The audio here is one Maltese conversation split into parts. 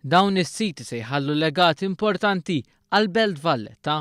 Dawn is-siti se jħallu legat importanti għal Belt Valletta.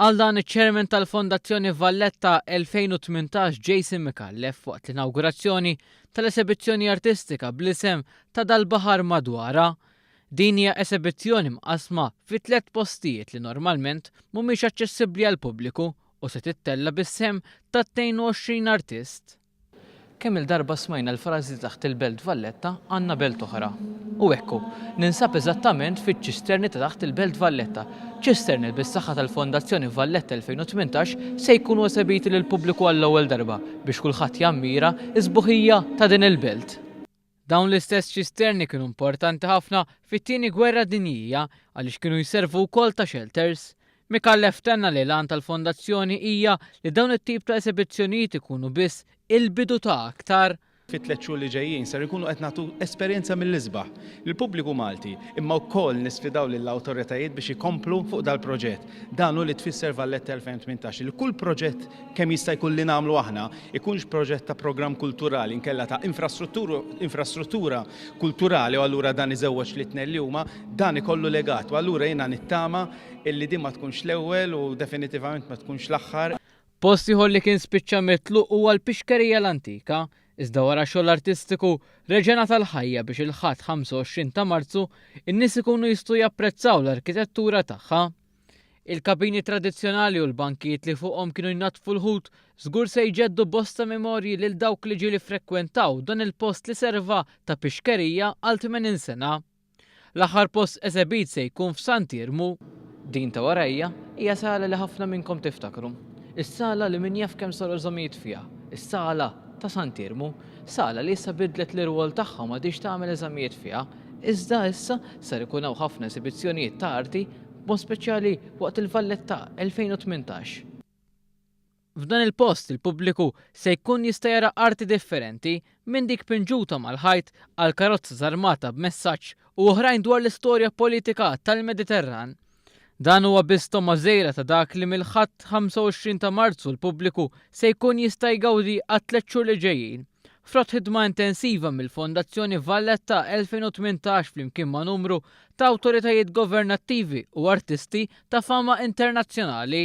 Għal dan iċ-Chairman tal-Fondazzjoni Valletta 2018 Jason Mikallef waqt l-inawgurazzjoni tal-esebizzjoni artistika bl-isem ta' dal-baħar madwara. Din hija esebizzjoni mqasma fi tliet postijiet li normalment mhumiex aċċessibbli għall-pubbliku u se tittella bis-sehem ta' 22 artist. Kemm-il darba smajna l-frażi taħt il-Belt Valletta għandna belt oħra. U hekk hu. Ninsab eżattament fiċ-ċisterni ta' taħt il-Belt Valletta. Ċisterni li bis-saħħa tal-Fondazzjoni Valletta 2018 se jkunu esebiti lill-pubbliku għall-ewwel darba biex kulħadd jammira s-sbuħija ta' din il-belt. Dawn l-istess ċisterni kienu importanti ħafna fit-Tieni Gwerra Dinjija għaliex kienu jservu wkoll ta' xelters. Micallef tenna li l-għan tal-Fondazzjoni hija li dawn it-tip ta' esebizzjonijiet ikunu biss il-bidu ta' aktar. Fit-tliet xhur li ġejjin ser ikunu qed nagħtu esperjenza mill-isbaħ lill-pubbliku Malti imma wkoll nisfidaw lill-awtoritajiet biex ikomplu fuq dal-proġett. Dan hu li tfisser Valletta 2018 li kull proġett kemm jista' jkun li nagħmlu aħna ikunx proġett ta' programm kulturali inkella ta' infrastruttura kulturali u allura dan iżewweġ li tnejn li huma dan ikollu legat u allura jiena nittama illi din ma tkunx l-ewwel u definitivament ma tkunx l-aħħar. Post ieħor li kien spiċċa mitluq huwa l-Pixkerija l-Antika Iżda wara xogħol artistiku, reġa' ngħata l-ħajja biex il-Ħadd 25 ta' Marzu n-nies ikunu jistgħu japprezzaw l-arkitettura tagħha. Il-kabini tradizzjonali u l-bankijiet li fuqhom kienu jnaddfu l-ħut żgur se jġeddu bosta memorji lil dawk li ġieli ffrekwentaw dan il-post li serva ta' pixkerija għal 80 sena. L-aħħar post esebit se jkun f'Sant Iermu. Din ta' warajja hija sala li ħafna minnkom tiftakru. Is-sala li min jaf kemm saru żomijiet fiha, is-sala ta' Sant Iermu. Sala li issa biddlet l-irwol tagħha u m'għadhiex tagħmel eżamijiet fiha, iżda issa ser ikun hawn ħafna esibizzjonijiet ta' arti, b'mod speċjali waqt il-Valletta 2018. F'dan il-post il-pubbliku se jkun jista' jara arti differenti, minn dik pinġuta mal-ħajt għal karozza żarmata b'messaġġ u oħrajn dwar l-istorja politika tal-Mediterran. Dan huwa biss togħma żgħira ta' dak li mill-Ħadd 25 ta' Marzu l-pubbliku se jkun jista' jgawdi għat-tliet xhur li ġejjin, frott ħidma intensiva mill-Fondazzjoni Valletta 2018 flimkien ma' numru ta' awtoritajiet governattivi u artisti ta' fama internazzjonali.